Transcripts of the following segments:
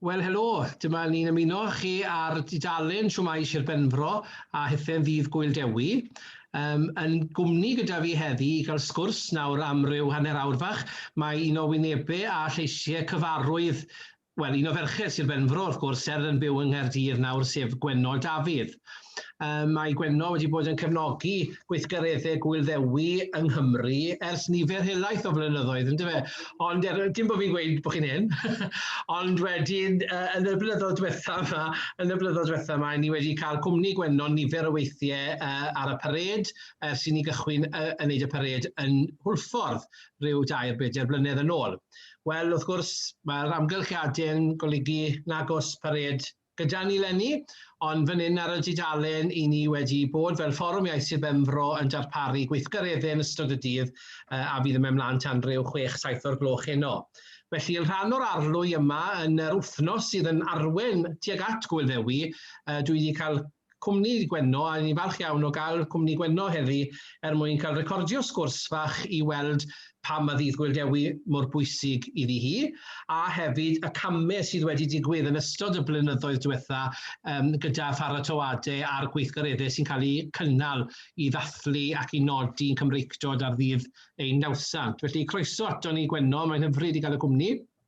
Wel helo, dyma ni'n ymuno â chi ar dudalen Siwmai Sir Benfro a Hithau'n Ddydd Gŵyl Dewi. Um, yn gwmni gyda fi heddi i gael sgwrs nawr am ryw hanner awr fach, mae un o wynebau a lleisiau cyfarwydd Wel, un o ferched Sir Benfro, wrth gwrs, ser yn byw yng Nghaerdydd nawr, sef Gwenno Dafydd. Um, mae Gwenno wedi bod yn cefnogi gweithgareddau Gwyl Ddewi yng Nghymru ers nifer helaeth o flynyddoedd, ynddo fe? Ond er, dim bod fi'n gweud bod chi'n hyn, ond wedyn uh, yn y blynyddoedd diwetha yma, yn y blynyddoedd diwetha yma, ni wedi cael cwmni Gwenno nifer o weithiau uh, ar y pared, ers i ni gychwyn uh, yn neud y pared yn Hwlffordd rhyw dair bedair blynedd yn ôl. Wel, wrth gwrs, mae'r amgylchiadau'n golygu nag oes pared gyda ni lenni, ond fan hyn ar y dudalen i ni wedi bod fel Fforwm Iaith Sir Benfro yn darparu gweithgareddau yn ystod y dydd a fydd yn mynd mlaen tan ryw 6-7 o'r gloch heno. Felly, yn rhan o'r arlwy yma, yn yr wythnos sydd yn arwen tuag at Gwyl Ddewi, dwi wedi cael Cwmni Gwenno a ni'n falch iawn o gael Cwmni Gwenno heddi er mwyn cael recordio sgwrs fach i weld pam ma Ddydd Gŵyl Dewi mor bwysig iddi hi a hefyd y camau sydd wedi digwydd yn ystod y blynyddoedd diwetha yym gyda pharatoadau a'r gweithgareddau sy'n cael eu cynnal i ddathlu ac i nodi'n Cymreictod ar ddydd ein nawddsant. Felly croeso aton ni Gwenno, mae'n hyfryd i gael y cwmni.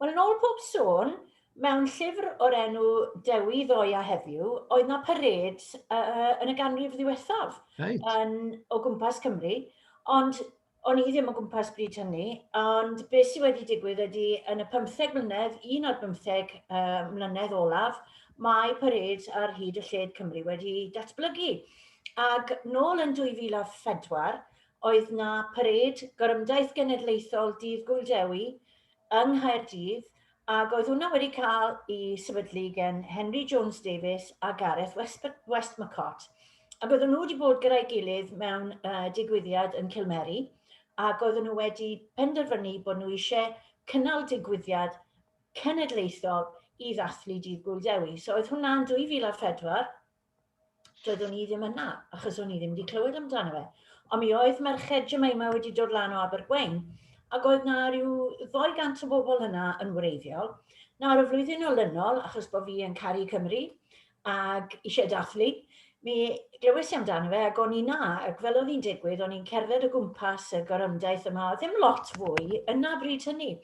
Wel, yn ôl pob sôn, mewn llyfr o'r enw Dewi ddoe a heddiw, oedd na parêd uh, yn y ganrif ddiwethaf right. yn, o gwmpas Cymru, ond o'n i ddim o gwmpas bryd hynny, ond beth sydd wedi digwydd ydy yn y 15 mlynedd, un o'r 15 uh, mlynedd olaf, mae parêd ar hyd y lled Cymru wedi datblygu. Ac nôl yn 2004, oedd na parêd Gorymdaith Genedlaethol Dydd Gŵyl Dewi yng Nghaerdydd ac oedd hwnna wedi cael i sefydlu gen Henry Jones Davies a Gareth West, Westmacott. Ac oedden nhw wedi bod gyda'i gilydd mewn uh, digwyddiad yn Cilmeri ac oedden nhw wedi penderfynu bod nhw eisiau cynnal digwyddiad cenedlaethol i ddathlu Dydd Gŵyl Dewi. So oedd hwnna'n 2004 doeddwn i ddim yna, achos o'n i ddim wedi clywed amdano fe. Ond mi oedd merched Jemima wedi dod lan o Abergwein, ac oedd na rhyw 200 o bobl yna yn wreiddiol. Nawr, y flwyddyn olynol, achos bod fi yn caru Cymru ac eisiau dathlu, mi glywes i amdano fe ac o'n i na, ac fel oedd hi'n digwydd, o'n i'n cerdded o gwmpas y gorymdaith yma, ddim lot fwy, yna bryd hynny,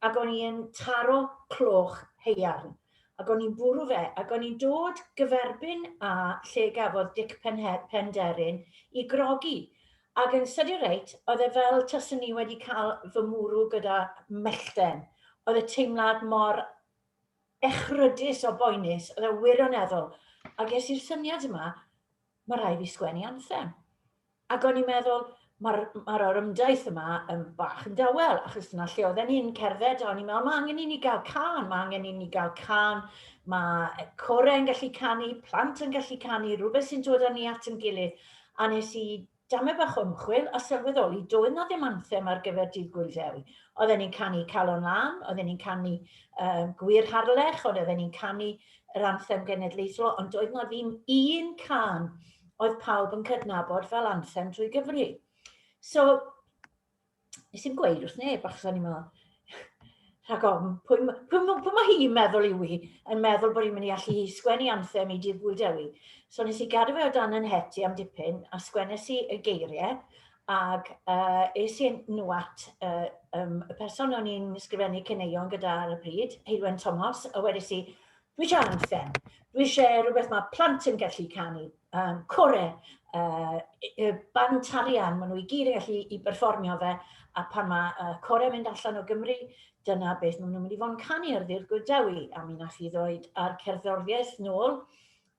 ac o'n i'n taro cloch heiarn. Ac o'n i'n bwrw fe, ac o'n i'n dod gyferbyn â lle gafodd Dic Penderyn i grogi, ac yn sydyn reit, oedd e fel taswn i wedi cael fy mwrw gyda mellten. Oedd y teimlad mor echrydus o boenus, oedd e wirion eddol, a ges i'r syniad yma, mae rhaid fi sgwennu anthem. Ac o'n i'n meddwl, mae'r ma orymdaith yma yn bach yn dawel, achos dyna lle oedden ni'n cerdded, a o'n i'n meddwl, mae angen i ni gael can, mae angen i ni gael can, mae corau yn gallu canu, plant yn gallu canu, rhywbeth sy'n dod â ni at yn gilydd, a nes i Dame bach o ymchwil a sylweddoli doedd 'na ddim anthem ar gyfer Dydd Gŵyl Ddewi. Oedden ni'n canu Calon Lan, oedden ni'n canu um, Gwir Harlech, ond oedden ni'n canu yr anthem genedlaethol, ond doedd 'na ddim un can oedd pawb yn cydnabod fel anthem trwy Gymru. So, nes i'n gweud wrth neb, achos o'n i'n meddwl, rhag ofn, pwy, pwy, pwy mae hi'n meddwl yw i, yn meddwl bod hi'n mynd i allu sgwennu anthem i Dydd Gwyl Dewi. So nes i gadw fe o dan yn het i am dipyn, a sgwennes i y geiriau, ac uh, es i nhw at uh, um, y person o'n i'n sgrifennu cyneuon gyda ar y pryd, Heilwen Tomos, a wedes i, Dwi isio anthem. Dwi eisiau rhywbeth mae plant yn gallu canu. Um, core, uh, y band tarian, maen nhw i gyd yn gallu i berfformio fe, a pan mae uh, core yn mynd allan o Gymru, dyna beth maen nhw'n mynd i fod yn canu ar ddi'r gwyddewi, a mi nath i ddoed ar cerddoriaeth nôl,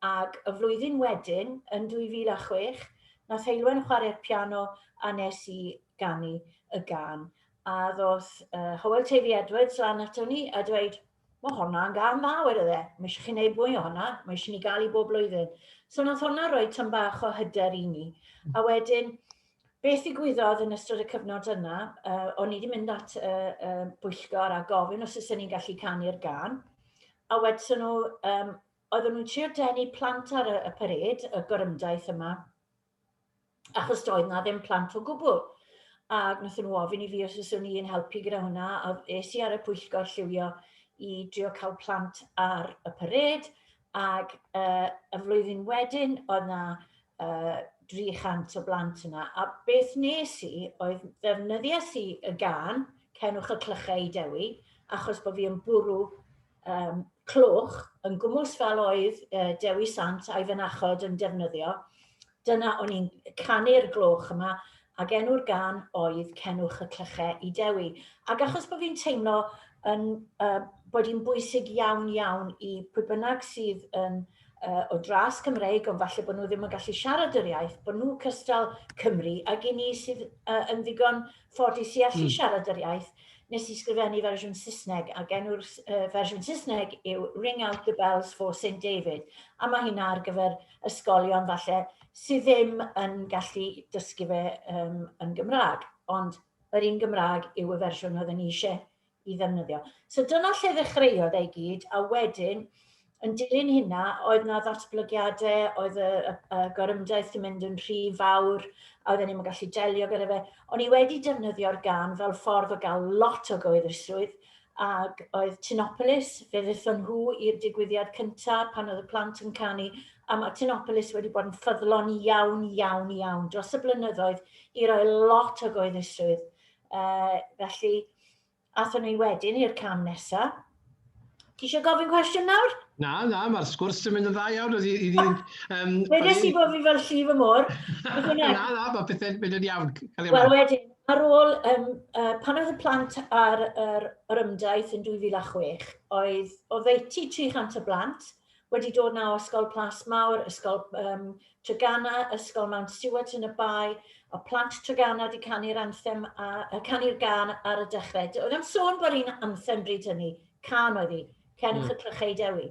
ac y flwyddyn wedyn, yn 2006, nath Heilwen chwarae'r piano a nes i ganu y gan. A ddoth uh, Howell Tavy Edwards lan ato ni a dweud, Mae honna yn gan dda, wedodd e. Mae eisiau chi wneud mwy o honna, mae eisiau ni gael i bob blwyddyn. So nath honna roi tyn bach o hyder i ni. Hmm. A wedyn, beth i gwyddodd yn ystod y cyfnod yna, uh, o'n i wedi mynd at y uh, uh, bwyllgor a gofyn os ydyn ni'n gallu canu'r gan. A wedyn nhw, um, oedden nhw'n trio denu plant ar y, y pared, y gorymdaith yma, achos doedd na ddim plant o gwbl. A wnaethon nhw ofyn i fi os yswn i'n helpu gyda hwnna, a es i ar y pwyllgor lliwio i drio cael plant ar y parêd, ac uh, y flwyddyn wedyn oedd na uh, 300 o blant yna. A beth nes i oedd ddefnyddiais i y gan Cenwch y Clychau i Dewi, achos bod fi yn bwrw um, clwch yn gwmws fel oedd uh, Dewi Sant a'i fynachod yn defnyddio. Dyna o'n i'n canu'r gloch yma ac enw'r gan oedd Cenwch y Clychau i Dewi. Ac achos bod fi'n teimlo yn, uh, bod hi'n bwysig iawn iawn i pwy bynnag sydd yn uh, o dras Cymreig, ond falle bod nhw ddim yn gallu siarad yr iaith, bod nhw cystal Cymru, ac i ni sydd uh, yn ddigon ffodus i allu mm. siarad yr iaith, nes i sgrifennu fersiwn Saesneg, ac enw'r uh, fersiwn Saesneg yw Ring Out the Bells for St David, a mae hynna ar gyfer ysgolion falle sydd ddim yn gallu dysgu fe um, yn Gymraeg, ond yr un Gymraeg yw y fersiwn oedd yn eisiau i ddefnyddio. So dyna lle ddechreuodd ei gyd, a wedyn, yn dilyn hynna, oedd na ddatblygiadau, oedd y, y, y gorymdaith yn mynd yn rhy fawr, a oedden ni'n gallu delio gyda fe. O'n i wedi defnyddio'r gan fel ffordd o gael lot o gyhoeddusrwydd, ac oedd Tinopolis, fe ddethon nhw i'r digwyddiad cyntaf pan oedd y plant yn canu, a mae Tinopolis wedi bod yn ffyddlon iawn, iawn, iawn dros y blynyddoedd i roi lot o gyhoeddusrwydd Uh, felly, athyn ni wedyn i'r cam nesaf. Ti eisiau gofyn cwestiwn nawr? Na, na, mae'r sgwrs yn mynd yn dda iawn. Oedd i, um, um, Wede si bod fi fel llif y môr. na, na, mae pethau'n mynd yn iawn. Wel, wedyn, ar ôl, um, uh, pan oedd y plant ar yr, yr ymdaith yn 2006, oedd oddeutu 300 o blant, wedi dod 'na o Ysgol Plas Mawr, Ysgol um, Treganna, Ysgol Mount Stewart yn y Bae, a plant Treganna wedi canu'r anthem, a, a canu'r gan ar y dechrau. Oedd am sôn bod un anthem bryd hynny, can oedd hi, Cenwch mm. y Clychau Dewi.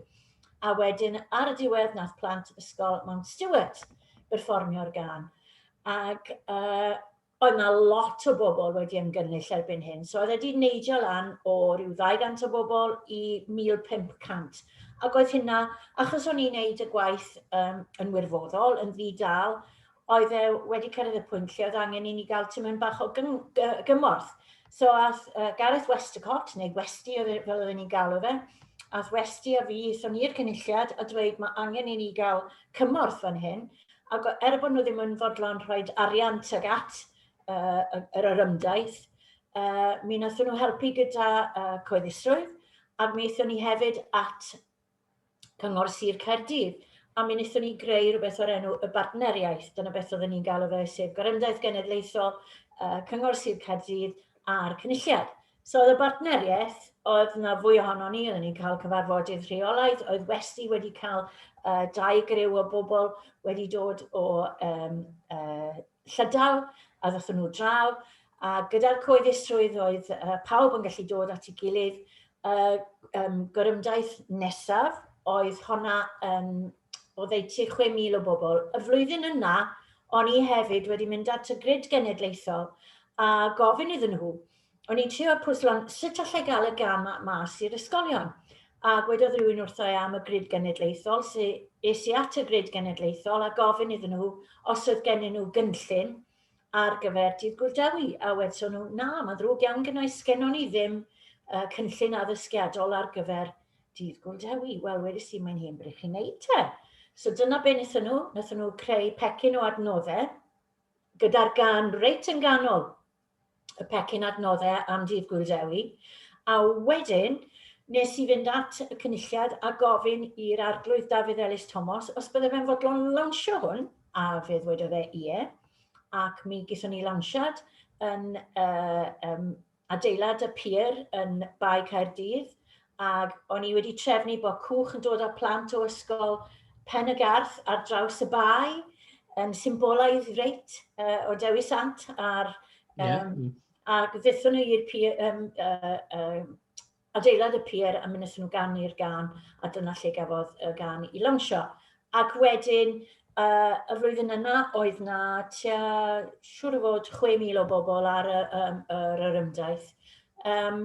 A wedyn, ar y diwedd, nath plant Ysgol Mount Stewart berfformio'r gan. Ac uh, oedd 'na lot o bobl wedi ymgynnull erbyn hyn. So oedd e wedi neidio lan o ryw 200 o bobl i 1,500. Ac oedd hynna, achos o'n i'n neud y gwaith um, yn wirfoddol, yn ddi-dal, oedd e wedi cyrraedd y pwynt lle oedd angen i ni gael tymyn bach o gymorth. So ath uh, Gareth Westacott, neu Westi e, fel oedden ni'n galw fe, ath Westi a fi, so ni'r cynulliad, a dweud mae angen i ni gael cymorth fan hyn, Ac er bod nhw ddim yn fodlon rhoi arian tuag at uh, yr orymdaith, uh, mi wnaethon nhw helpu gyda uh, coeddusrwydd, a mi wnaethon ni hefyd at Cyngor Sir Caerdydd, a mi wnaethon ni greu rhywbeth o'r enw y bartneriaeth. Dyna beth oedden ni'n galw fe, sef Gorymdaith Genedlaethol uh, Cyngor Sir Caerdydd a'r Cynulliad. So oedd y bartneriaeth, oedd yna fwy ohono ni, oedden ni'n cael cyfarfodydd rheolaidd, oedd Westi wedi cael uh, dau griw o bobl wedi dod o um, uh, llydaw a ddothon nhw draw, a gyda'r coeddusrwydd oedd uh, pawb yn gallu dod at ei gilydd. Uh, um, gorymdaith nesaf oedd honna um, o ddeutu 6,000 o bobl. Y flwyddyn yna, o'n i hefyd wedi mynd at y grid genedlaethol a gofyn iddyn nhw, o'n i'n trio pwyslo'n sut allai gael y gam mas i'r ysgolion. A gwedodd rhywun wrtho e am y grid genedlaethol, sy es i at y grid genedlaethol a gofyn iddyn nhw os oedd gennyn nhw gynllun ar gyfer dydd gwrdewi, a wedson nhw, na, mae'n ddrwg iawn gynnau, sgennon ni ddim uh, cynllun addysgiadol ar gyfer dydd gwrdewi. Wel, wedi si, mae'n hyn bryd chi'n neud te. So dyna be wnaethon nhw, wnaethon nhw creu pecyn o adnoddau gyda'r gan reit yn ganol y pecyn adnoddau am Ddydd Gŵyl Dewi, a wedyn nes i fynd at y cynulliad a gofyn i'r Arglwydd Dafydd Elis Tomos os bydde fe'n fodlon lawnsio hwn, a fe ddwedodd e ie, ac mi gyson ni lawnsiad yn uh, um, adeilad y pier yn Bae Caerdydd, ac o'n i wedi trefnu bod cwch yn dod â plant o ysgol Pen y Garth ar draws y bae, yn symbolaidd reit uh, o Dewi Sant ar... Um, yeah. Ac ddethon nhw i'r pier, um, uh, uh, adeilad y pier a mynd nhw gan i'r gan, a dyna lle gafodd y gan i lawnsio. Ac wedyn, uh, y flwyddyn yna, oedd na tua, siŵr o fod, 6,000 o bobl ar y, um, yr yrymdaith. Um,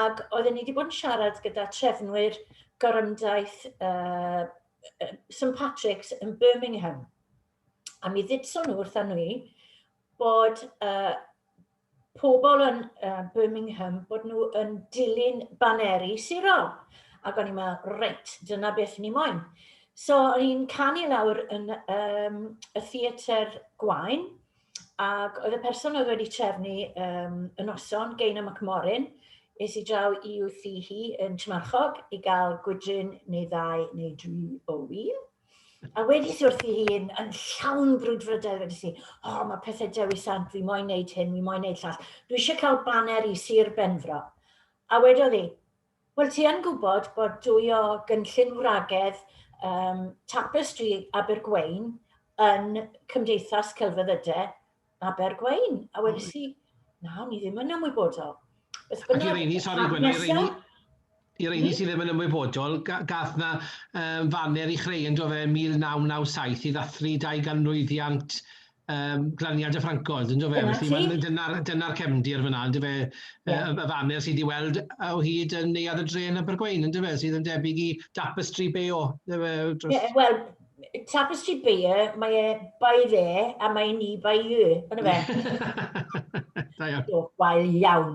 Ac oedden ni wedi bod yn siarad gyda trefnwyr gorymdaith uh, St Patrick's yn Birmingham. A mi ddudson nhw wrtha ni bod uh, pobl yn uh, Birmingham bod nhw yn dilyn baneri sirol. Ac o'n i'n meddwl, reit, dyna beth ni moyn. So o'n i'n canu lawr yn um, y theatr gwain, Ac oedd y person oedd wedi trefnu um, y noson, Geina McMorin, es i draw i wrthi hi yn Tmarchog i gael gwydryn neu ddau neu dri o wyl. A wedi si wrthi hi yn, yn llawn brwydfrydedd wedi si, o, oh, mae pethau Dewi Sant, fi moyn neud hyn, fi moyn neud llall. Dwi eisiau cael baner i Sir Benfro. A wedodd hi, Wel, ti yn gwybod bod dwy o gynllun wragedd um, Tapestry Abergwein yn Cymdeithas Celfyddydau Abergwein. A wedi si, na, ni ddim yn ymwybodol. Ac i reini, sori Gwen, i reini, i reini sydd ddim yn ymwybodol, gath na um, faner i chreu yn dofe 1997 i ddathlu 200 mlwyddiant um, glaniad y Ffrancoedd, yn dweud fe? Felly, dyna'r dyna cefndir fyna, yn dweud fe, yeah. y faner sydd wedi weld o hyd yn neuad y dren yn Bergwein, yn dweud fe, sydd yn debyg i Tapestry Bay o. Yeah, Wel, Tapestry Bay, e, mae e bai fe, a mae ni bai y, yn y fe. Da iawn. Dwi'n gwael iawn.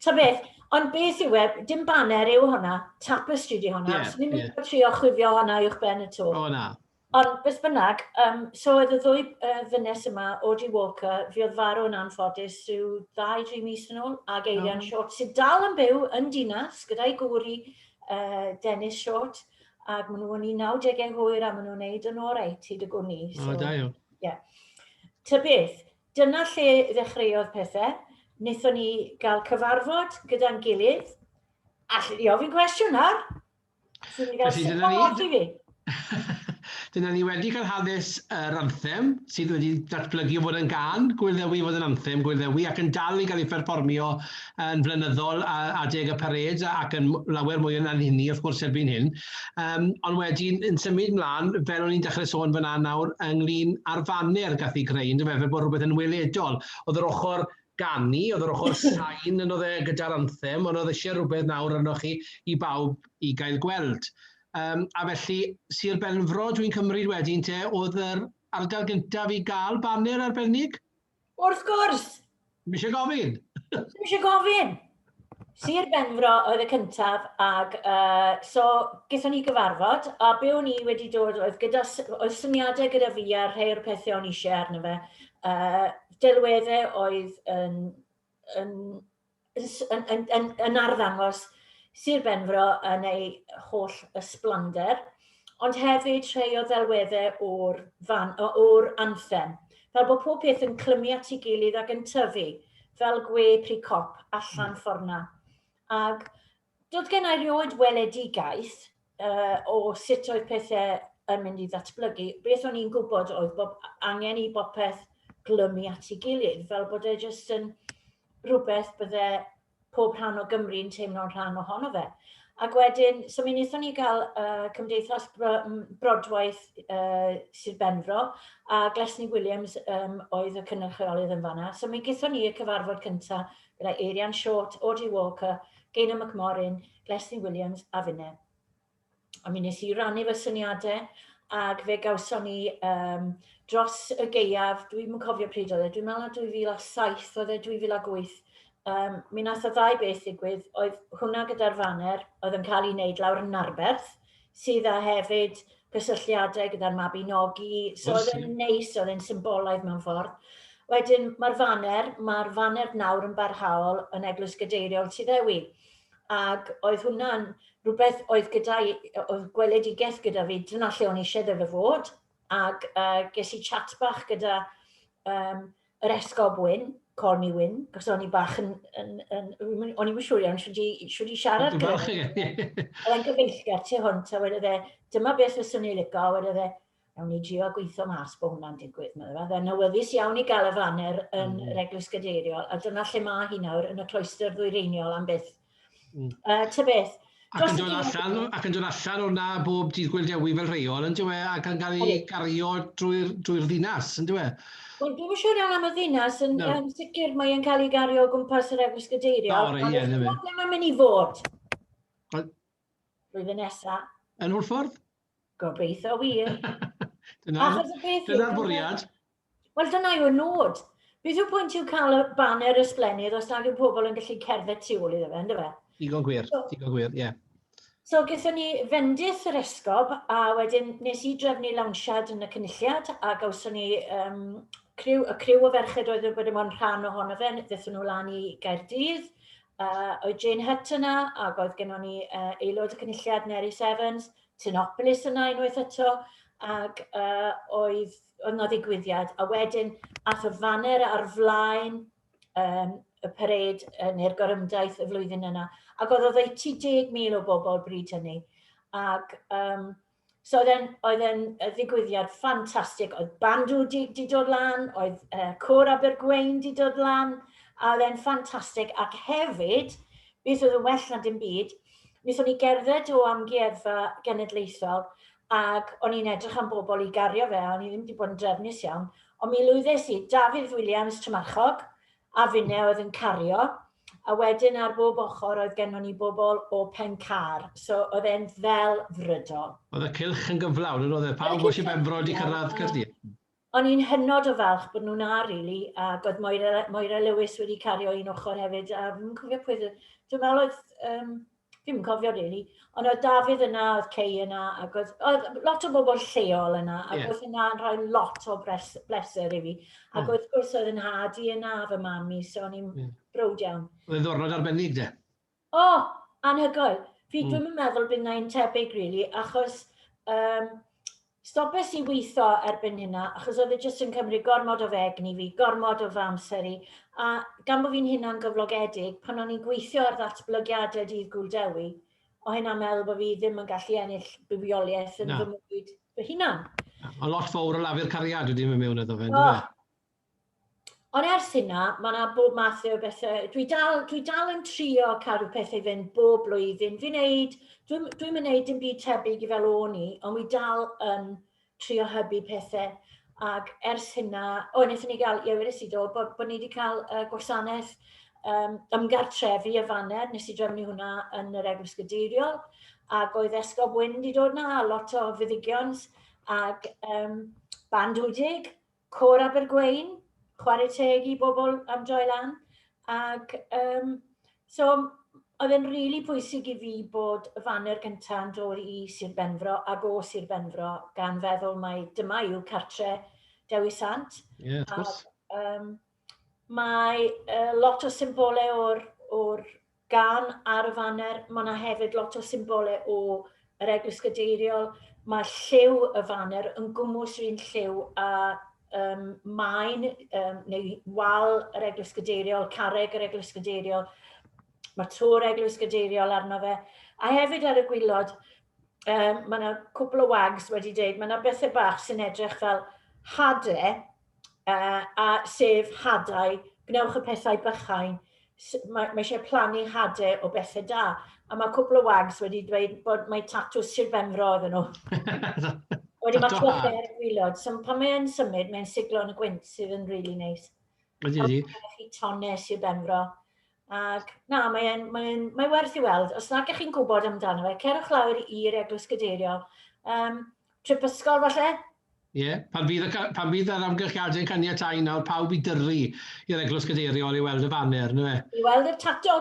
Ta beth, Ond beth yw e, dim baner yw hwnna, tapestry di hwnna, yeah, so ni'n yeah. trio chwifio hwnna i'wch ben y to. O na. Ond beth bynnag, um, so oedd y ddwy uh, ddynes yma, Audrey Walker, fi oedd farw yn anffodus rhyw ddau, dri mis yn ôl, ac Eirian oh. Short, sydd dal yn byw yn dinas gyda'i gŵr i uh, Dennis Short, ac maen nhw'n 19au hwyr a maen nhw'n neud yn oreit hyd y gwni. So, oh, da iawn. Yeah. Ta beth, dyna lle ddechreuodd pethau. Nethon ni gael cyfarfod gyda'n gilydd. Alli di ofyn cwestiwn nawr? Felly, dyna ni. dyna ni wedi cael hanes yr anthem sydd wedi datblygu o fod yn gan Gwilddewi fod yn anthem Gwilddewi ac yn dal i gael ei pherfformio yn flynyddol a adeg y parêd ac yn lawer mwy yn anhyni wrth gwrs erbyn hyn. Um, ond wedyn yn symud mlaen, fel o'n i'n dechrau sôn fyna nawr, ynglyn â'r faner gath ei greu, fel bod rhywbeth yn weledol. Oedd yr ochr ganu, oedd yr ochr sain yn oedd e gyda'r anthem, ond oedd eisiau rhywbeth nawr arnoch chi i bawb i gael gweld. Um, a felly, Sir Benfro, dwi'n cymryd wedyn te, oedd yr ardal gyntaf i gael baner arbennig? Wrth gwrs! Ddim eisiau gofyn? Ddim eisiau gofyn! Sir Benfro oedd y cyntaf, ac uh, so gyda ni gyfarfod, a be o'n i wedi dod oedd, gyda, oedd syniadau gyda fi ar rhai o'r pethau o'n eisiau arno fe. Uh, delweddau oedd yn, yn, yn, yn, yn, yn arddangos Sir Benfro yn ei holl ysblander. ond hefyd rhei o ddelweddau o'r, fan, o'r anthem, fel bod pob peth yn clymu at ei gilydd ac yn tyfu fel gwe pri cop allan hmm. fforna. Ac doedd gen i rioed weledigaeth uh, o sut oedd pethau yn mynd i ddatblygu. Beth o'n i'n gwybod oedd bod angen i bopeth glymu at ei gilydd, fel bod e jyst yn rhywbeth bydde pob rhan o Gymru yn teimlo'n rhan ohono fe. Ac wedyn, so mi wnaethon ni gael uh, Cymdeithas Bro Brodwaith uh, Sir Benfro a Glesni Williams um, oedd y cynrychiolydd yn fanna. So mi gython ni y cyfarfod cyntaf gyda Eirian Short, Audrey Walker, Gaynor McMorrin, Glesni Williams a finne. a mi nes i rannu fy syniadau, ac fe gawson ni um, dros y geiaf, dwi'n cofio pryd oedd e, dwi'n meddwl na 2007 oedd e, 2008, um, mi nath o ddau beth ddigwydd, oedd hwnna gyda'r faner oedd yn cael ei wneud lawr yn Narberth, sydd â hefyd cysylltiadau gyda'r Mabinogi, so oedd e'n neis, oedd e'n symbolaidd mewn ffordd. Wedyn, mae'r faner, mae'r faner nawr yn barhaol yn Eglwys Gadeiriol Tuddewi. ac oedd hwnna'n rhywbeth oedd gyda i, oedd gweledigaeth gyda fi, dyna lle o'n eisiau ddefe fod, ac uh, ges i chat bach gyda um, yr esgob Wyn, call me Wyn, cos o'n i bach yn, yn, yn, yn o'n i'n siŵr iawn siwyd i, siwyd i siarad gyda fi. Oedd e'n gyfeillgar tu hwnt, a wedi dde, dyma beth fy swn i'n licio, a wedi dde, Ewn ni drio gweithio mas bod hwnna'n digwydd, meddwl. Fe fe'n awyddus iawn i gael y faner yn mm. yr Eglwys Gadeiriol, a dyna lle mae hi nawr yn y cloister ddwyreiniol am byth. Mm. Uh, ta beth, Ac yn dod allan, ac yn dod allan o'na bob dydd Gwyl Dewi fel rheol, yn dywe, ac yn cael ei gario drwy'r drwy ddinas, yn dywe. Wel, dwi'n siŵr iawn am y ddinas, yn, no. yn sicr mae'n cael ei gario o gwmpas yr Eglwys Gadeiriol. O, rei, ie, dywe. Ond mae'n mynd i fod. Blwyddyn nesa. Yn Hwlffordd? Gobeithio wir. Dyna'r bwriad. Wel, dyna yw'r nod. Beth yw pwynt yw cael y baner ysblennydd os nad yw pobl yn gallu cerdded tu ôl iddo fe, ynddo fe? Digon gwir, digon gwir, ie. So, gyda ni fendith yr esgob, a wedyn nes i drefnu lawnsiad yn y cynulliad, a gawson ni um, criw, y criw o ferched oedd wedi bod yn rhan ohono fe, ddethon nhw lan i Gaerdydd, Uh, oedd Jane Hutt yna, ac oedd gennym ni uh, aelod y cynulliad Nerys Evans, Tinopolis yna unwaith eto, ac uh, oedd yna ddigwyddiad. A wedyn, ath y faner ar flaen um, y pered uh, neu'r gorymdaith y flwyddyn yna, ac oedd oddeutu 10,000 o bobl bryd hynny. Ac um, So oedd e'n, oedd e'n ddigwyddiad ffantastig. Oedd bandw di, di dod lan, oedd uh, cwr Abergwein di dod lan, a oedd e'n ffantastig. Ac hefyd, beth oedd yn well na dim byd, wnaethon ni gerdded o amgueddfa genedlaethol ac o'n i'n edrych am bobl i gario fe, a o'n i ddim wedi bod yn drefnus iawn, ond mi lwyddes i, Dafydd Williams, Trymarchog, a finne oedd yn cario, A wedyn ar bob ochr oedd gennon ni bobl o Pencar, so oedd e'n ddelfrydol. Oedd y cylch yn gyflawn yn oedd e? Pawb o Sir Benfro wedi cyrraedd Caerdydd? O'n i'n hynod o falch bod nhw'n 'na rili, ac oedd Moira Moira Lewis wedi cario un ochr hefyd, a fi'm yn cofio pwy oedd y... Dwi'n meddwl oedd yym Ddim yn cofio rili, really. ond oedd Dafydd yna, oedd Cei yna, ac oedd, oedd lot o bobl lleol yna, ac yeah. oedd yna'n rhoi lot o bres, bleser i fi. Ac oh. wrth gwrs oedd yn hadu yna, fy mami, so o'n i'n yeah. brwd iawn. Oedd yn ddornod arbennig, de? O, oh, anhygoel. Fi mm. dwi'n meddwl bydd na'n tebyg, rili, really, achos um, Stopes i weitho erbyn hynna achos oedd e jyst yn cymryd gormod o fy egni fi, gormod o fy amser i, a gan bo fi'n hunangyflogedig, pan o'n i'n gweithio ar ddatblygiadau Dydd Gŵyl Dewi, o' hynna'n meddwl bo' fi ddim yn gallu ennill bywioliaeth yn fy mywyd fy hunan. A lot fowr o lafur cariad wedi mynd mewn iddo fe, yndyfe? Ond ers hynna, mae yna bob math o bethau. Dwi dal, dwi dal yn trio cadw pethau fynd bob blwyddyn. Fi'n neud, dwi'n dwi neud dim byd tebyg i fel o'n i, ond wi dal yn trio hybu pethau. Ac ers hynna, o, wnaethon ni gael, ie, wedi si do, bod, bod ni wedi cael uh, gwasanaeth um, ymgartrefu y faner, nes i drefnu hwnna yn yr Eglwys Gadeiriol, ac oedd Esgob Wyn wedi dod na, lot o fyddigion, ac um, band wdig, Côr Abergwein, chware teg i bobl am droi lan, ac um, so oedd e'n rili really pwysig i fi bod y faner gyntaf yn dod i Sir Benfro ac o Sir Benfro, gan feddwl mae dyma yw cartre Dewi Sant. Ie, yeah, wrth gwrs. Um, Mae uh, lot o symbolau o'r, or gan ar y faner. Mae yna hefyd lot o symbolau o yr Eglwys Gadeiriol. Mae lliw y faner yn gwmwys rhywun lliw a um, maen um, neu wal yr Eglwys Gadeiriol, carreg yr Eglwys Gadeiriol. Mae tŵr Eglwys Gadeiriol arno fe. A hefyd ar y gwylod, um, mae yna cwpl o wags wedi dweud, mae yna bethau bach sy'n edrych fel hade, uh, a sef hadau, gwnewch y pethau bychain, mae, mae eisiau plannu hadau o bethau da. A mae cwpl o wags wedi dweud bod mae tatw Sir Benfro iddyn nhw. Wedi mae clother ar y gwylod. So pan mae'n symud, mae'n siglo yn y gwynt sydd yn really neis. Wedi di. Mae chi tonne Sir Benfro. Ac na, mae'n mae, mae werth i weld. Os nad ydych chi'n gwybod amdano fe, cerwch lawr i'r Eglwys Gadeirio. Um, trip ysgol falle, Ie, pan fydd y ca- pan fydd yr amgylchiadau'n caniatáu nawr pawb i dyrru i'r Eglwys Gadeiriol i weld y faner, yndyfe? I weld y tato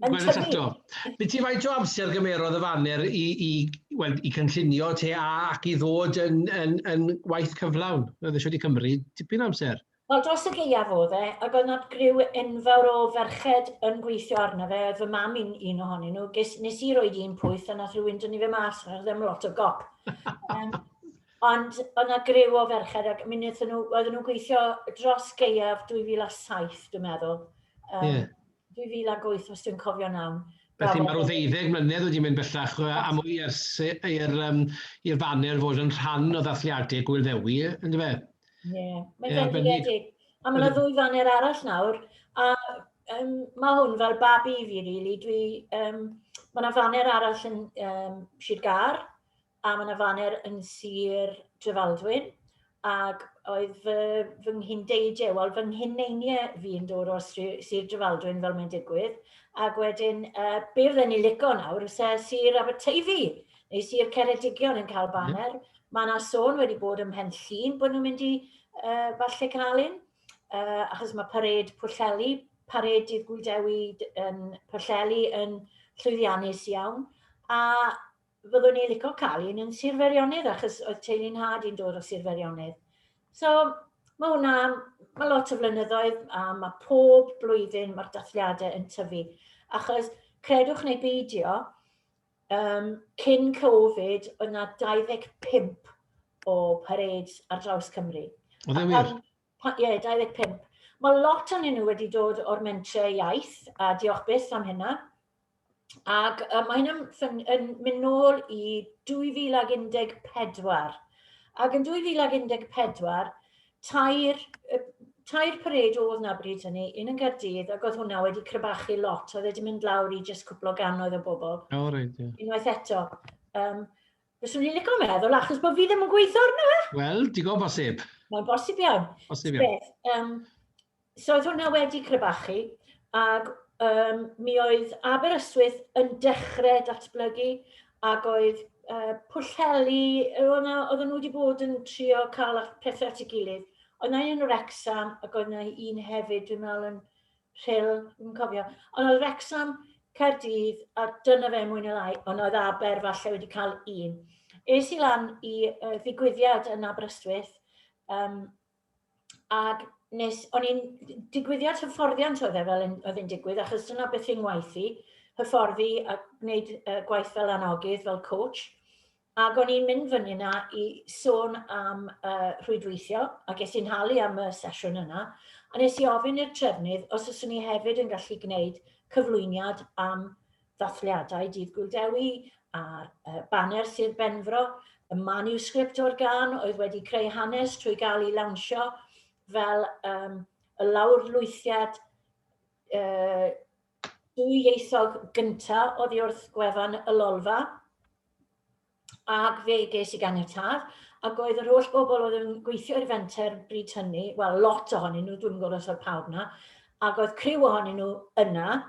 yn Gweld y tyfu. tato. Be ti faint o amser gymerodd y faner i, i, wel, i cynllunio te a ac i ddod yn, yn, yn waith cyflawn? Roedd e wedi cymryd tipyn o amser. Wel, dros y gaeaf oedd e, ac oedd 'na griw enfawr o ferched yn gweithio arno fe, oedd fy mam i'n un ohonyn nhw, ges, nes i roed un pwyth a nath rhywun dynnu fe mas, oedd ddim lot o gop. um, ond oedd 'na griw o ferched ac mi wnaethon nhw, oedden nhw'n gweithio dros gaeaf 2007 dwi'n meddwl. Um, yeah. 2008 os dwi'n cofio'n iawn. Felly mae rhyw ddeuddeg mlynedd wedi mynd bellach yy a mwy ers i- i'r yym i'r faner fod yn rhan o ddathliadau Gŵyl Ddewi yy yndyfe? Ie, mae'n fendigedig. A ma' 'na ddwy faner arall nawr a yym ma' hwn fel babi i fi rili, dwi yym ma' 'na faner arall yn yym Sir Gâr a mae 'na faner yn Sir Drefaldwyn, ac oedd fy fy nghyn-deidie, wel fy nghyn-neinie fi yn dod o'r Sir Drefaldwyn fel mae'n digwydd, ac wedyn uh, be fydden ni'n lico nawr, fysa Sir Aberteifi neu Sir Ceredigion yn cael baner. Mm. Mae yna sôn wedi bod ym Mhen Llun bod nhw'n mynd i uh, falle cael un, uh, achos mae pared Pwllheli, pared dydd Gwydewi yn Pwllheli yn llwyddiannus iawn, a Fyddwn i lico cael un yn Sir Feirionnydd achos oedd teulu nhad i'n dod o Sir Feirionnydd. So, mae hwnna, mae lot o flynyddoedd a mae pob blwyddyn mae'r dathliadau yn tyfu. Achos credwch neu beidio, um, cyn Covid, oedd yna 25 o parades ar draws Cymru. Oedd e wir? Pa, ie, 25. Mae lot o'n nhw wedi dod o'r mentrau iaith, a diolch byth am hynna. Ac uh, mae hynna'n yn, yn mynd nôl i 2014. Ac yn 2014, tair, tair pared oedd na bryd hynny, un yn Gardydd, ac oedd hwnna wedi crybachu lot, oedd wedi mynd lawr i jyst cwpl o ganoedd o bobl. O, reit, ie. Unwaith eto. Um, Bys o'n i'n licio meddwl, achos bod fi ddim yn gweithio arno fe. Wel, digon bosib. Mae'n bosib iawn. Bosib iawn. Beth, um, so oedd hwnna wedi crebachu, ac um, mi oedd Aberystwyth yn dechrau datblygu, ac oedd uh, pwllheli, oedd nhw wedi bod yn trio cael pethau at ei gilydd. Oedd yna un o'r Wrexham, ac oedd yna un hefyd, dwi'n meddwl, yn Rhyl, yn cofio. Ond oedd Wrexham, Caerdydd, a dyna fe mwy neu lai, ond oedd Aber falle wedi cael un. Es i lan i uh, ddigwyddiad yn Aberystwyth, um, ac nes, o'n i'n digwyddiad hyfforddiant oedd e fel oedd yn digwydd, achos dyna beth i'n ngwaith i, hyfforddi a gwneud uh, gwaith fel anogydd, fel coach. Ac o'n i'n mynd fyny yna i sôn am uh, rhwydweithio, a ges i'n halu am y sesiwn yna, a nes i ofyn i'r trefnydd os yswn i hefyd yn gallu gwneud cyflwyniad am ddathliadau Dydd Gwildewi a'r uh, baner Sir Benfro, y manuscript o'r gan oedd wedi creu hanes trwy gael ei lawnsio fel um, y lawr lwythiad uh, dwyieithog gynta' oddi wrth gwefan y Lolfa, ac fe ges i ganiatâd, ac oedd yr holl bobl oedd yn gweithio i'r fenter bryd hynny, wel, lot ohonyn nhw, dwi'm yn gwybod os oedd pawb 'na, ac oedd criw ohonyn nhw yna,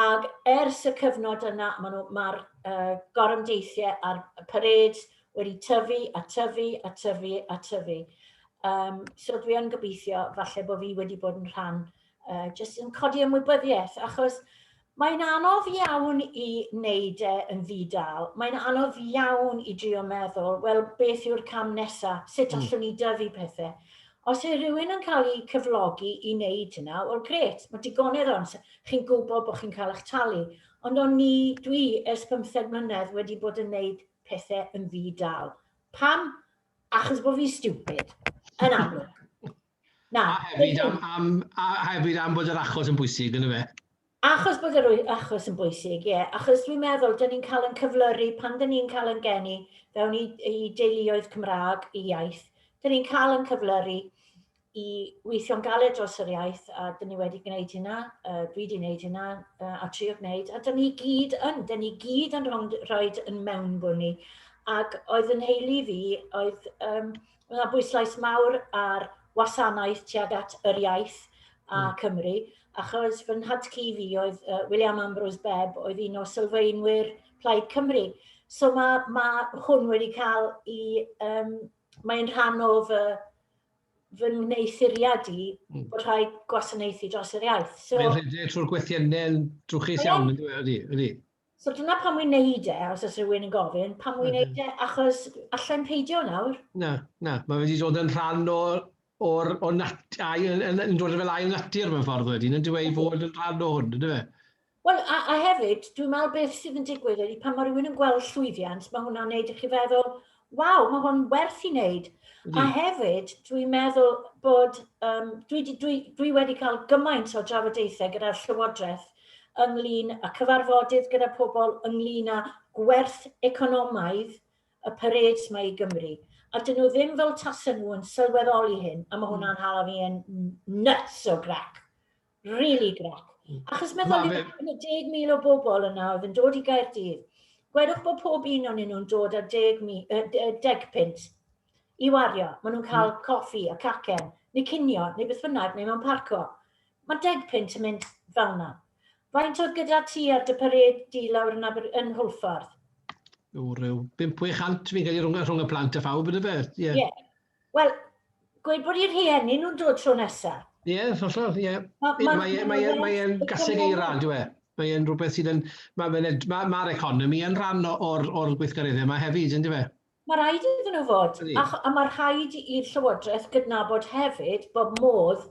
ac ers y cyfnod yna, ma' nhw, ma'r yy gorymdeithiau a'r parêd wedi tyfu a tyfu a tyfu a tyfu. Yym, so dwi yn gobeithio falle bo' fi wedi bod yn rhan uh, jyst yn codi ymwybyddiaeth, achos mae'n anodd iawn i wneud e yn ddi-dal. Mae'n anodd iawn i drio meddwl, wel, beth yw'r cam nesaf, sut mm. allwn ni dyfu pethau. Os yw rhywun yn cael ei cyflogi i wneud hynna, wel, gret, mae digonedd o'n sy'n chi'n gwybod bod chi'n cael eich talu. Ond o'n ni, dwi, ers 15 mlynedd wedi bod yn wneud pethau yn ddi-dal. Pam? Achos bod fi'n stupid, yn amlwg. Na. A hefyd am, am, a hefyd am bod yr achos yn bwysig, yn y fe? Achos bod yr achos yn bwysig, ie. Yeah. Achos dwi'n meddwl, dyn ni'n cael yn cyflyru pan dyn ni'n cael yn geni fewn i, i deuluoedd Cymraeg i iaith. Dyn ni'n cael yn cyflyru i weithio'n galed dros yr iaith, a dyn ni wedi gwneud hynna, uh, dwi wedi gwneud hynna, uh, a trio gwneud, a dyn ni gyd yn, dyn ni gyd yn rhoi yn mewn bwni. Ac oedd yn heili fi, oedd um, Mae 'na bwyslais mawr ar wasanaeth tuag at yr iaith a hmm. Cymru, achos fy nhad-cu fi oedd uh, William Ambrose Bebb, oedd un o sylfaenwyr Plaid Cymru. So mae, mae hwn wedi cael i... Um, mae'n rhan o fy, fy wneuthuriad i mm. bod rhai gwasanaethu dros yr iaith. So, mae'n rhedeg trwy'r gwethiennau drwchus iawn, ydy? ydy. So dyna pam wi'n neud e, os oes rhywun yn gofyn, pam wi'n neud e, achos allai'n peidio nawr. Na, na, mae wedi dod yn rhan o, o'r, o nat, ail, yn, yn dod fel ail natur mewn ffordd wedyn, yn dweud fod yn rhan o hwn, ynddo fe? Wel, a, a hefyd, dwi'n meddwl beth sydd yn digwydd ydy pan mae rhywun yn gweld llwyddiant, mae hwnna'n neud i chi feddwl, Waw, mae hwn werth i wneud. Mm. A hefyd, dwi'n meddwl bod, um, dwi, dwi, dwi wedi cael gymaint o drafodaethau gyda'r Llywodraeth ynglyn y cyfarfodydd gyda pobl ynglyn â gwerth economaidd y parades mae i Gymru. A dyn nhw ddim fel tasen nhw yn sylweddoli hyn, a mae hwnna'n hmm. hala fi yn nuts o grac. Really grac. Achos meddwl, yn y 10,000 o bobl yna oedd yn dod i Gaerdydd, gwedwch bod pob un o'n nhw'n dod ar 10 pint i wario. Maen nhw'n cael mm. coffi a cacen, neu cinio, neu beth bynnag, neu mewn parco. Mae 10 pint yn mynd fel yna. Faint oedd gyda ti ar dy pared di lawr yn, Aber, yn Hwlffordd? O, rhyw 500 fi'n cael ei rhwng, rhwng y plant a phawb, ydy fe? Ie. Yeah. Yeah. Wel, gweud bod eu rhieni nhw'n dod tro nesa. Ie, yeah, hollol, ie. Yeah. Mae'n ma, e, ma, e, ma e gaseg eira, dwi e. Mae e'n rhywbeth sydd yn... Mae'r ma, ma, ma economi yn rhan o'r, or gweithgareddau yma hefyd, ynddi fe? Mae rhaid iddyn nhw fod, a, a mae rhaid i'r Llywodraeth gydnabod hefyd bod modd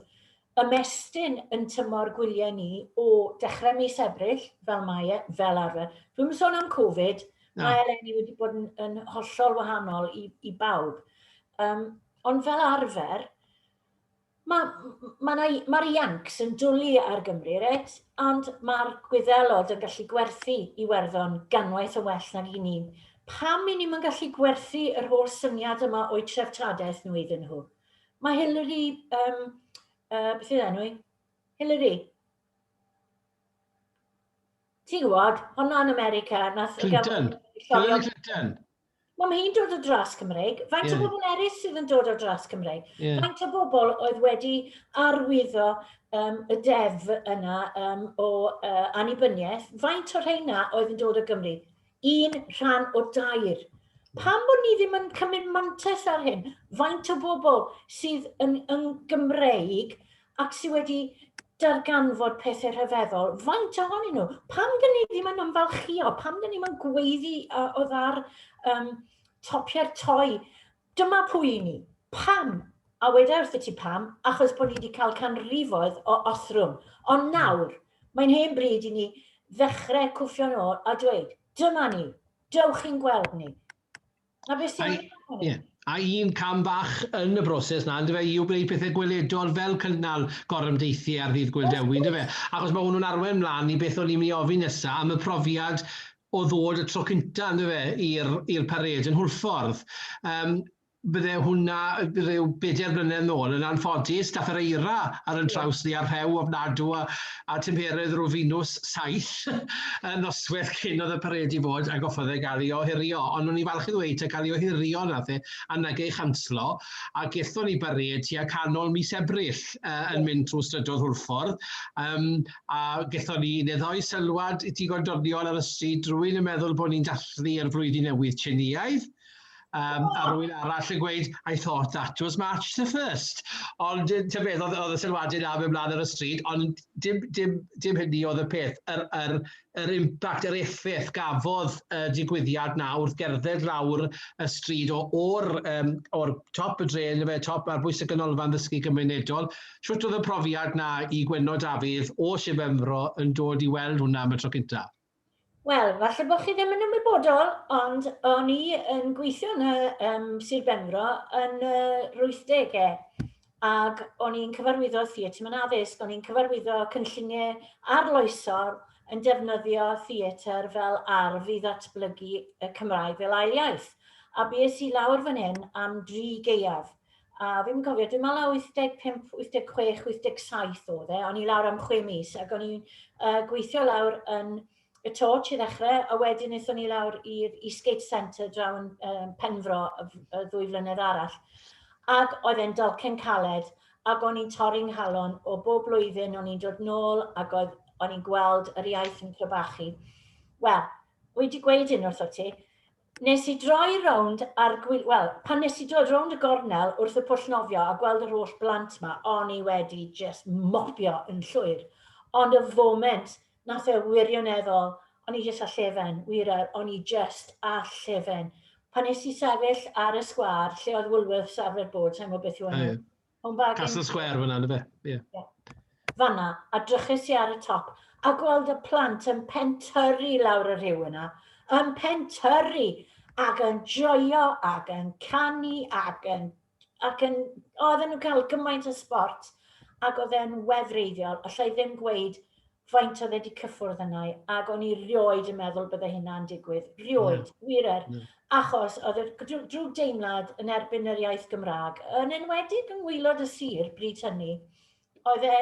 ymestyn yn tymor gwyliau ni o dechrau mis Ebrill, fel mae e, fel arfer. Dwi'n sôn am Covid, no. mae eleni wedi bod yn, yn hollol wahanol i, i bawb. Um, ond fel arfer, mae'r ma, ma, ma Iancs yn dwlu ar Gymru, ret? ond mae'r gwyddelod yn gallu gwerthu i werddon ganwaith yn well nag i ni. Pam i ni'n gallu gwerthu yr holl syniad yma o'i treftadaeth nhw iddyn nhw? Mae Hillary, um, uh, beth yw enw i? Hillary. Ti'n gwybod, hwnna yn America. Nath Clinton. Hillary Clinton. Mae ma hi'n dod o dras Cymreig. Faint yeah. o bobl eraill sydd yn dod o dras Cymreig? Yeah. Faint o bobl oedd wedi arwyddo um, y deddf yna um, o uh, anibyniaeth? Faint o'r rheina oedd yn dod o Gymru? un rhan o dair. Pam bod ni ddim yn cymryd mantais ar hyn? Faint o bobl sydd yn, yn Gymreig ac sydd wedi darganfod pethau rhyfeddol, faint ohonyn nhw? Pam dyn ni ddim yn ymfalchio? Pam dyn ni'n gweiddi o ddar um, topiau'r toi? Dyma pwy i ni. Pam? A weda wrthyt ti pam, achos bod ni wedi cael canrifoedd o othrwm. Ond nawr, mae'n hen bryd i ni ddechrau cwffio'n ôl a dweud, dyma ni, dewch chi'n gweld ni. Na beth sy'n wir am hynny? Yeah. A un cam bach yn y broses na, yndyfe, i wneud pethau gweledol fel cynnal gorymdeithiau ar ddydd Gŵyl Dewi, yndyfe? Achos mae hwnnw'n arwain mlaen i beth o'n i'n mynd i ofyn nesaf am y profiad o ddod y tro cynta yndyw e i'r i'r parêd yn Hwlffordd. Yym bydde hwnna rhyw bedair blynedd nôl yn anffodus dath yr eira ar yn traws ni a'r rhew ofnadw a, a tymheredd rhyw finws saith y nosweth cyn oedd y parêd i fod a goffodd e gael ei ohirio ond o'n i'n falch i ddweud ta cael ei ohirio nath e a nag ei chanslo a gethon ni barêd tua canol mis Ebrill uh, yn mynd trwy strydoedd Hwlffordd um, a gethon ni neddau sylwad digon doniol ar y stryd, rwy'n yn meddwl bod ni'n dathlu ar flwyddyn newydd Tsieineaidd, um, a rwy'n arall yn gweud, I thought that was March the 1st. Ond ti'n beth, oedd, oedd y sylwadau na mewn blaen ar y stryd, ond dim, dim, dim hynny oedd y peth. Yr, yr, yr impact, yr effaith gafodd y digwyddiad na wrth gerdded lawr y stryd o'r, um, or top y dre, top ar bwys y ganolfan ddysgu gymunedol, Shwt oedd y profiad 'na i Gwenno Dafydd o Sir Benfro yn dod i weld hwnna am y tro cynta? Wel, falle bod chi ddim yn ymwybodol, ond o'n i yn gweithio yn y um, Sir Benfro yn y uh, 80au ac o'n i'n cyfarwyddo theatr mewn addysg, o'n i'n cyfarwyddo cynlluniau arloesol yn defnyddio theatr fel arf i ddatblygu y Cymraeg fel ail iaith. A bys i lawr fan hyn am dri geiaf. a fi'n cofio, dwi'n meddwl 85, 86, 87 oedd e, o'n i lawr am chwe mis, ac o'n i'n uh, gweithio lawr yn y torch i ddechrau, a wedyn eithon ni lawr i'r Eastgate Centre draw yn um, Penfro y, y ddwy flynedd arall. Ac oedd e'n dalcen caled, ac o'n i'n torri'n nghalon o bob blwyddyn, o'n i'n dod nôl, ac oedd, o'n i'n gweld yr iaith yn crybachu. Wel, wedi gweud hyn wrtho ti, Nes i droi rownd a'r gwylio, wel, pan nes i droi rownd y gornel wrth y pwll nofio a gweld yr holl blant 'ma, o'n i wedi jyst mopio yn llwyr. Ond y foment, nath e wirioneddol, o'n i jyst â llefen, wir yr, o'n i jyst â llefen. Pan nes i sefyll ar y sgwâr lle oedd Woolworths arfer bod, sai'n gwbod beth yw enw, Home bargain. Castle Square fanna, ynddo fe? Ie. Yeah. Yeah. Fanna, a drychus i ar y top, a gweld y plant yn pentyrru lawr y rhyw yna, yn pentyrru ac yn joio ac yn canu ac yn... Ac yn oedden nhw'n cael gymaint o sport ac oedd e'n wefreiddiol, allai ddim gweud faint oedd e wedi cyffwrdd yna i, ac o'n i rioed yn meddwl bydde hynna'n digwydd. Rioed, yeah. wir er. Yeah. Achos oedd y drwg deimlad yn erbyn yr iaith Gymraeg, yn enwedig yng ngwylod y sir bryd hynny, oedd e,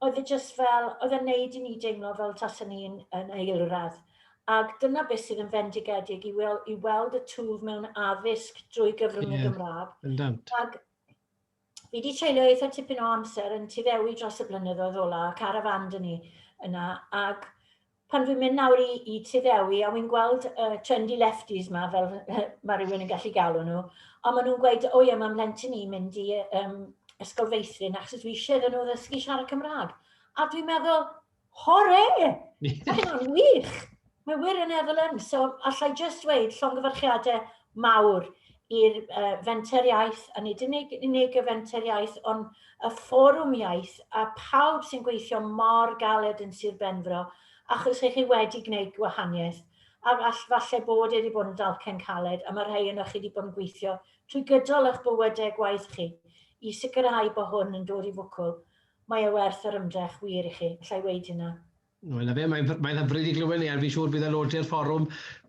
oedd e just fel, oedd e'n neud i ni deimlo fel tas yn un yn eilradd. Ac dyna beth sydd yn fendigedig i, wel, i weld y twf mewn addysg drwy gyfrwng yeah. y Gymraeg. Ac fi wedi treulio eitha tipyn o amser yn tu fewi dros y blynyddoedd ola, carafan dyn ni yna, ac pan dwi'n mynd nawr i, i tu fewi, a wy'n gweld uh, trendy lefties ma, fel mae rhywun yn gallu galw nhw, ond maen nhw'n gweud, o ie, mae'n mlentyn i mynd i um, ysgol feithrin, achos dwi eisiau iddyn nhw ddysgu siarad Cymraeg. A dwi'n meddwl, Hore! Mae hynna'n wych! Mae wir yn efo lym. So, allai jyst dweud llongyfarchiadau mawr i'r uh, fenter iaith, a nid yn unig, unig y fenter iaith, ond y fforwm iaith, a pawb sy'n gweithio mor galed yn Sir Benfro, achos eich chi wedi gwneud gwahaniaeth. A all, falle bod wedi bod yn dalcen caled, a mae rhai yno chi wedi bod yn gweithio trwy gydol eich bywydau gwaith chi, i sicrhau bod hwn yn dod i fwcwl. Mae e werth yr ymdrech, wir i chi, alla i weud hynna. Wel 'na fe, mae'n mae'n hyfryd i glywed 'ny a fi'n siŵr bydd aelodau'r fforwm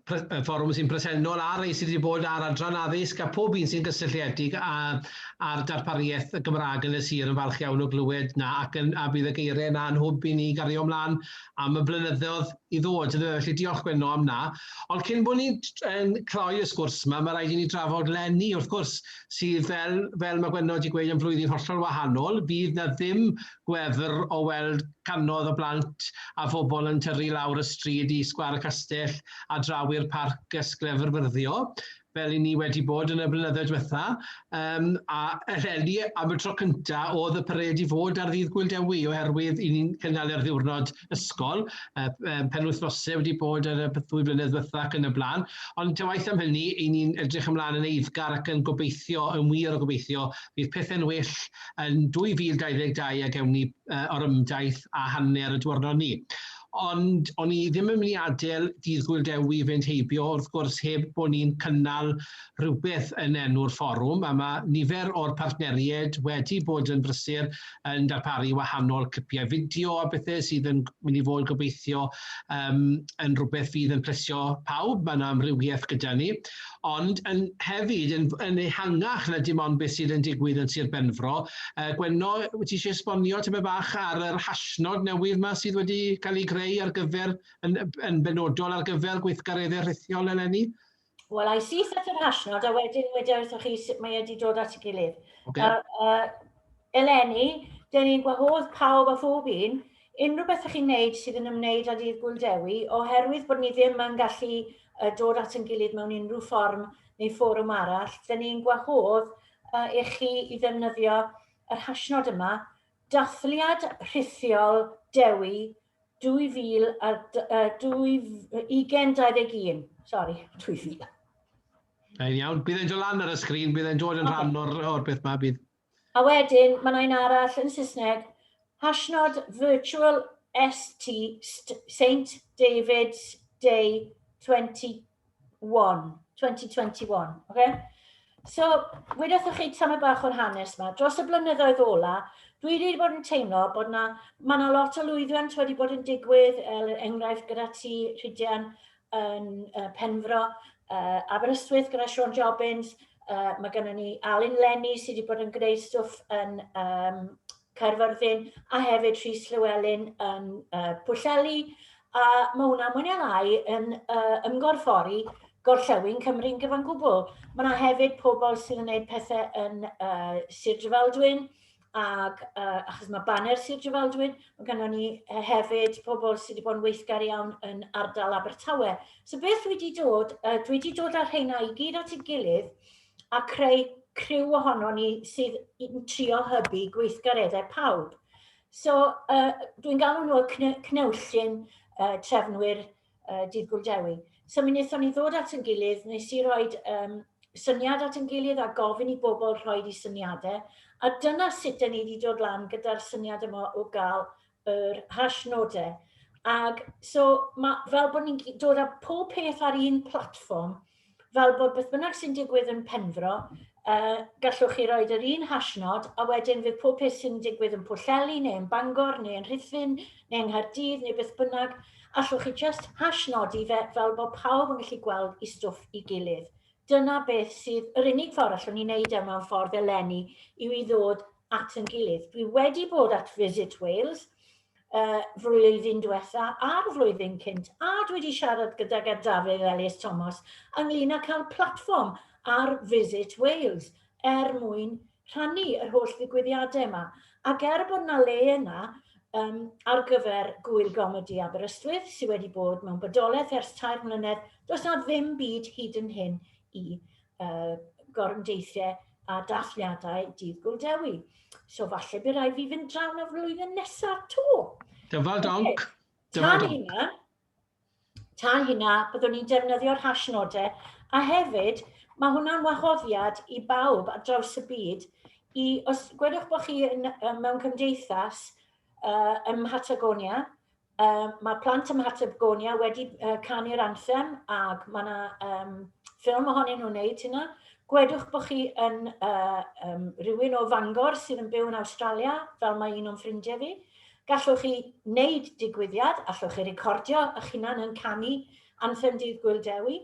pre- y fforwm sy'n presennol a rei sydd wedi bod ar adran addysg a pob un sy'n gysylltiedig â â'r darpariaeth y Gymraeg yn y sir yn falch iawn o glywed 'na ac yn a bydd y geiriau 'na yn hwb i ni gario ymlaen am y blynyddoedd i ddod yndyfe felly diolch Gwenno am 'na. Ond cyn bod ni'n yn cloi y sgwrs 'ma mae rhaid i ni drafod Lenny wrth gwrs sydd fel fel ma' Gwenno 'di gweud yn flwyddyn hollol wahanol, fydd 'na ddim gwefr o weld cannoedd o blant a phobl yn tyrru lawr y stryd i Sgwâr y Castell a draw i'r parc ys Glyfrfyrddio, fel 'yn ni wedi bod yn y blynyddoedd diwetha', yym a eleni am y tro cynta' o'dd y parêd i fod ar ddydd Gŵyl Dewi oherwydd 'yn ni'n cynnal e'r ddiwrnod ysgol, y um, penwythnosau wedi bod ar y ddwy flynedd ddiwetha ac yn y blaen, ond ta waith am hynny, i ni'n edrych ymlaen yn eiddgar ac yn gobeithio, yn wir o gobeithio, bydd pethau'n well yn 2022 a gewn ni uh, orymdaith a hanner y diwrnod ni ond o'n i ddim yn mynd i adael dydd Gwyl Dewi fynd heibio wrth gwrs heb bod ni'n cynnal rhywbeth yn enw'r fforwm a mae nifer o'r partneriaid wedi bod yn brysur yn darparu wahanol clipiau fideo a bethau sydd yn mynd i fod gobeithio um, yn rhywbeth fydd yn plesio pawb, mae yna amrywiaeth gyda ni, ond yn hefyd yn, yn ehangach na dim ond beth sydd yn digwydd yn Sir Benfro. Uh, Gwenno, wyt ti eisiau esbonio tyma bach ar yr hashnod newydd yma sydd wedi cael ei greu ar gyfer, yn, yn benodol ar gyfer gweithgareddau rhithiol eleni? Wel, I see set yr hashnod, a wedyn wedi wrthoch chi sut mae wedi dod at y gilydd. Okay. Uh, uh, eleni, dyn ni'n gwahodd pawb a phob un, unrhyw beth ych chi'n neud sydd yn ymwneud â dydd Gwyl Dewi, oherwydd bod ni ddim yn gallu uh, dod at yn gilydd mewn unrhyw fform neu fforwm arall, dyn ni'n gwahodd uh, i chi i ddefnyddio yr hashnod yma, dathliad rhithiol Dewi 2000, uh, 2021, sorry, 2000. Yn iawn, bydd e'n dod lan ar y sgrin, bydd e'n dod yn okay. rhan o'r, or beth ma, bydd. A wedyn, mae'n ein arall yn Saesneg, hashnod virtual ST St David's Day 2020. 2021. Okay? So, wedi'ch chi tamau bach o'r hanes yma, dros y blynyddoedd ola, dwi wedi bod yn teimlo bod yna, mae yna lot o lwyddiant wedi bod yn digwydd, er enghraifft gyda ti, Rhydian, yn uh, Penfro, uh, Aberystwyth gyda Sean Jobbins, uh, mae gennym ni Alun Lenny sydd wedi bod yn gwneud stwff yn um, Caerfyrddin a hefyd Rhys Llewelyn yn uh, Pwllheli a mae hwnna mwy neu lai yn uh, ymgorffori gorllewin Cymru'n gyfan gwbl. Mae yna hefyd pobl sydd yn gwneud pethau yn uh, Sir Drefaldwyn ac uh, achos mae baner Sir Drefaldwyn, mae gennym ni hefyd pobl sydd wedi bod yn weithgar iawn yn ardal Abertawe. So beth dwi wedi dod, uh, dwi wedi dod â'r rheina i gyd at ei gilydd a creu criw ohono ni sydd yn trio hybu gweithgareddau pawb. So, uh, dwi'n galw nhw y cnewllun uh, trefnwyr uh, Dydd Gwldewi. So, mi wnaethon ni ddod at yn gilydd, nes i roi um, syniad at yn gilydd a gofyn i bobl rhoi i syniadau. A dyna sut da ni wedi dod lan gyda'r syniad yma o gael yr hash nodau. Ac so, ma, fel bod ni'n dod â pob peth ar un platfform, fel bod beth bynnag sy'n digwydd yn Penfro, uh, gallwch chi roed yr un hashnod, a wedyn fydd pob peth sy'n digwydd yn Pwllheli, neu yn Bangor, neu yn Rhithfyn, neu yng Nghaerdydd, neu beth bynnag, allwch chi just hashnodi fe fel bod pawb yn gallu gweld i stwff i gilydd. Dyna beth sydd yr unig ffordd allwn ni wneud e mewn ffordd eleni yw i ddod at yn gilydd. Dwi wedi bod at Visit Wales uh, flwyddyn diwetha a'r flwyddyn cynt, a dwi wedi siarad gydag ar Dafydd Elias Thomas ynglyn â cael platfform ar Visit Wales er mwyn rhannu yr holl ddigwyddiadau yma. Ac er bod na le yna um, ar gyfer gwyl gomedi Aberystwyth sydd wedi bod mewn bodolaeth ers tair mlynedd, does na ddim byd hyd yn hyn i uh, gorymdeithiau a dathliadau dydd Gwl Dewi. So falle bydd rhaid fi fynd draw na flwyddyn nesaf to. Dyfal donc. Dyfal donc. Hynna, ta hynna, byddwn ni'n defnyddio'r hashnodau, a hefyd, mae hwnna'n wahoddiad i bawb ar draws y byd, i, os gwedwch bod chi yn, mewn cymdeithas uh, ym Mhatagonia, Um, mae plant ym Mhateb Gonia wedi uh, canu'r anthem ac mae yna um, ffilm ohonyn nhw'n neud hynna. Gwedwch bod chi yn uh, um, rhywun o Fangor sydd yn byw yn Australia, fel mae un o'n ffrindiau fi. Gallwch chi wneud digwyddiad, allwch chi recordio eich hunan yn canu anthem dydd Gwyl Dewi.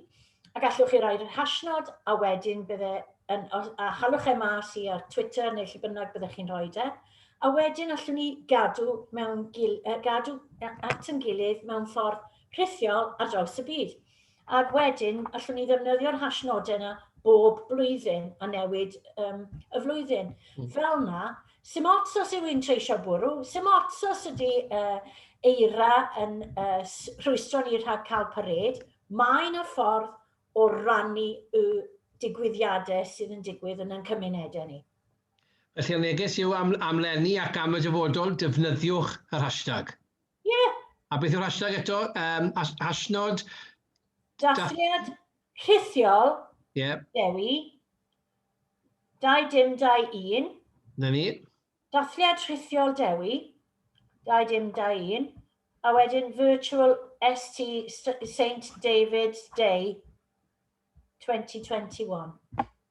A gallwch chi roi'r hashnod a wedyn bydde yn, a chalwch e mas i ar Twitter neu lle bynnag byddech chi'n rhoi e. A wedyn allwn ni gadw, mewn gil, uh, gadw at yn gilydd mewn ffordd rhithiol ar draws y byd. Ac wedyn allwn ni ddefnyddio'r hashnodau yna bob blwyddyn a newid um, y flwyddyn. Mm. Fel na, sy'n ots os yw'n treisio bwrw, sy'n ots os ydy uh, eira yn uh, rhwystro ni rhag cael parade, Mae 'na ffordd o rannu y digwyddiade sydd yn digwydd yn ein cymunede ni. Felly y neges yw am am leni ac am y dyfodol, defnyddiwch yr hashtag. Ie! A beth yw'r hashtag eto? Um, has hashnod... Dathliad rhithiol yeah. Dewi 21. 'Na ni. Dathliad rhithiol Dewi, 2021, a wedyn Virtual ST Saint David's Day 2021.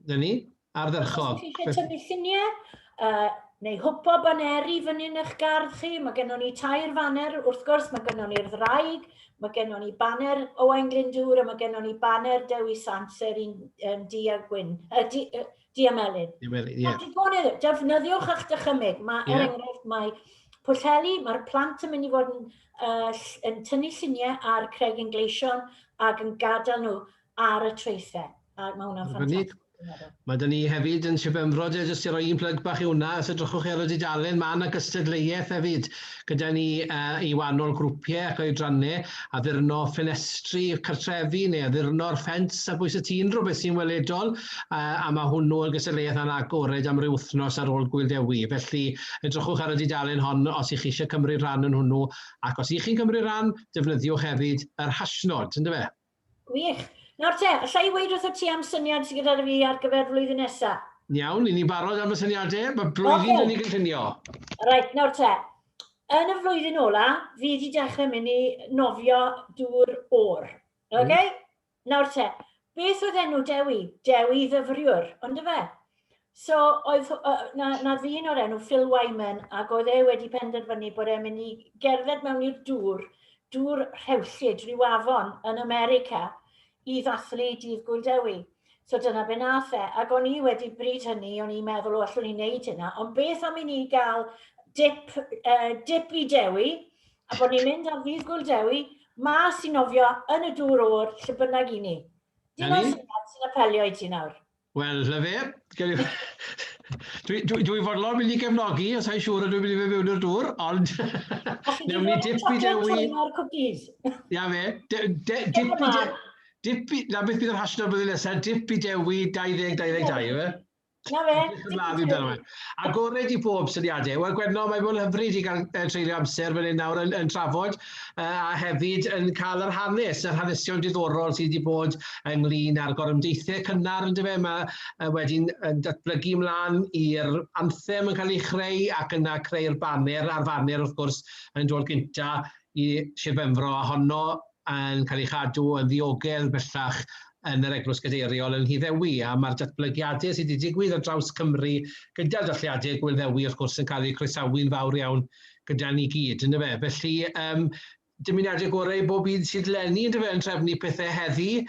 'Na ni, ardderchog. Os chi eisiau tynnu lluniau, uh, neu hwpo baneri fyny yn eich gardd chi, mae gennym ni tair faner, wrth gwrs, mae gennym ni'r ddraig, mae gennym ni baner Owain Glyndŵr a mae gennym ni baner Dewi Sant, sef un um, di a gwyn, uh, di, uh, Diamelin. Diamelin, ie. Yeah. Defnyddiwch eich dychymyg. Mae, yeah. er enghraifft, mae Pwllheli, mae'r plant yn mynd i fod yn, uh, yn tynnu lluniau ar Craig yn Gleision ac yn gadael nhw ar y traethau. A mae hwnna'n ffantastig. Mae dyn ni hefyd yn Sir Benfro, jyst i roi un plyg bach i hwnna, os edrychwch chi ar y dudalen, mae yna gystadleuaeth hefyd. gyda ni uh, i wahanol grwpiau ac oedrannau, addurno ffenestri cartrefi neu addurno'r ffens ar bwys y tîn, rhywbeth sy'n weledol, uh, a mae hwnnw yn gystadleuaeth anagored am ryw wythnos ar ôl Gwyl Dewi. Felly, edrychwch ar y dudalen hon os ych chi eisiau cymryd rhan yn hwnnw, ac os ych chi'n cymryd rhan, defnyddiwch hefyd yr hashnod, ynddo fe? Gwych. Nawr te, alla i weud wrtho ti am syniad sydd gyda fi ar gyfer flwyddyn nesa? Iawn, i ni barod am y syniadau, mae blwyddyn okay. yn ei gynllunio. Reit, nawr te. Yn y flwyddyn ola, fi wedi dechrau mynd i nofio dŵr o'r. Oce? Okay? Mm. Nawr te, beth oedd enw Dewi? Dewi ddyfriwr, ond y fe? So, oedd, uh, na, na ddyn o'r enw Phil Wyman, ac oedd e wedi penderfynu bod e'n mynd i gerdded mewn i'r dŵr, dŵr rhewllyd rhyw afon yn America, i ddathlu dydd Gwyl Dewi. So dyna be nath e, ac o'n i wedi bryd hynny, o'n i'n meddwl, o, allwn i wneud hynna, ond beth am i ni gael dip, uh, dip i Dewi, a bod ni'n mynd ar ddydd Gwyl Dewi, mas i nofio yn y dŵr o'r lle bynnag i ni. Dim ond sy'n apelio i ti nawr. Wel, Llyfe, dwi'n dwi, dwi fodlon mynd i gefnogi, os hain siŵr ydw i'n mynd i fe mewn i'r dŵr, ond newn ni dip i dewi... Ia fe, dip i dewi... Dip i... Na beth bydd yr hashtag blwyddyn nesaf, dip i dewi 2022, efe? Na fe, dip i dewi. Agored i bob syniadau. Wel Gwenno, mae bod yn hyfryd i gael uh, treulio amser fan hyn nawr yn, yn trafod uh, a hefyd yn cael yr hanes, yr hanesion diddorol sydd wedi bod ynglyn â'r gorymdeithiau cynnar yn dyfa. Mae uh, wedyn yn datblygu ymlaen i'r anthem yn cael ei chreu ac yna creu'r baner a'r faner wrth gwrs yn dod gyntaf i Sir Benfro a honno yn cael ei chadw yn ddiogel bellach yn yr Eglwys Gadeiriol yn Nhŷ Ddewi, a mae'r datblygiadau sydd wedi digwydd ar draws Cymru gyda'r dathliadau Gŵyl Ddewi wrth gwrs yn cael eu croesawu'n fawr iawn gyda ni gyd, yn dyfe? Felly, um, dymuniadau gorau i bob un sydd lenni, yn dyfe, yn trefnu pethau heddi,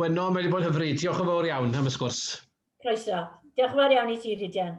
Gwenno, mae wedi bod yn hyfryd. Diolch yn fawr iawn am y sgwrs. Croeso. Diolch yn fawr iawn i ti, Rhydian.